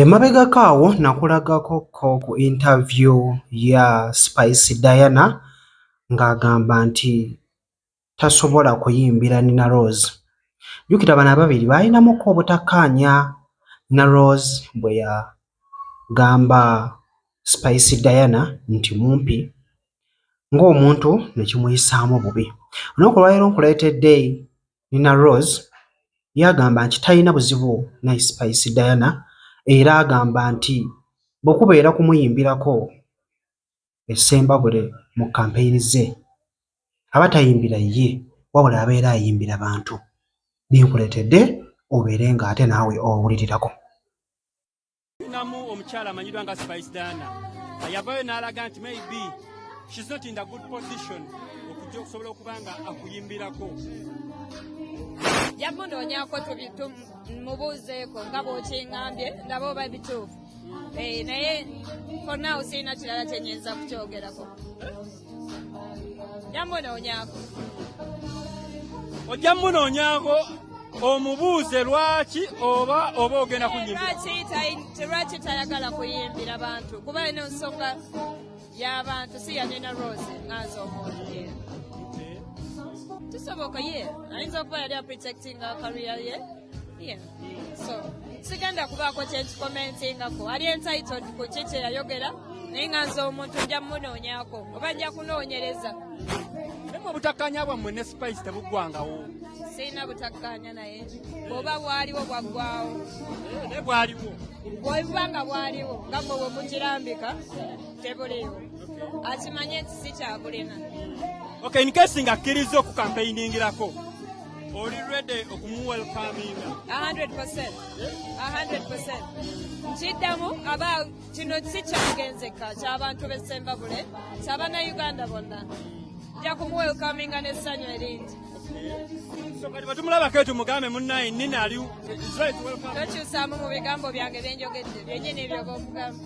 Emabegako awo nakulagako ko ku interview ya Spice Diana ng'agamba nti tasobola kuyimbira Nina Roz. Jjukira bano ababiri baalinamuko obutakkaanya Nina Roz bwe yagamba Spice Diana nti mumpi ng'omuntu ne kimuyisaamu bubi. Olunaku olwaleero nkuleetedde Nina Roz yagamba nti talina buzibu ne Spice Diana era agamba nti bwe kubeera kumuyimbirako e Ssembabule mu kkampeyini ze, aba tayimbira ye wabula abeera ayimbira bantu. Binkuleetedde obeere ng'ate naawe owulirirako. Namu omukyala amanyiddwa nga Spice Dana yavayo n'alaga nti maybe she's not in the good position okujja okusobola okuba nga akuyimbirako yamunoonyako mubuuzeeko nga bwokingambye ndaba oba bituufu eh, naye for now sirina kirala kyenyinza kukyogerako ojja munoonyako omubuuze lwaki oba oba ogenda kunyimbiralwaki tayagala kuyimbira bantu kuba eno nsonga y'abantu si yanina rose nganza omuoye tusoboka ye ayinza okuba yali aprotectinga kariya ye Yeah. So, sigenda kubaako kyekikomentingako ali entitled ku ki kyeyayogera naye nga nze omuntu nja munoonyako oba nja kunoonyereza mu obutakkanya bwammwe ne spice tebuggwangawo sirina butakkanya naye oba bwaliwo bwaggwawo eh, ne bwaliwo bwebuba nga bwaliwo nga mwe bwe mukirambika tebuliwo akimanye nti sikyabulina okay inkesi nga akkirizza okukampeyiningirako Oli ready okumuwelcominga? 100%. 100%. Nkiddamu aba kino si kyagenzeka ky'abantu b'e Ssembabule ky'abannayuganda bonna. Nja kumuwelcominga n'essanyu eringi. tumulabako tumugambe munnaye nina ali tokyusaamu mu bigambo byange byenjogedde byenyini ebyoba omugamba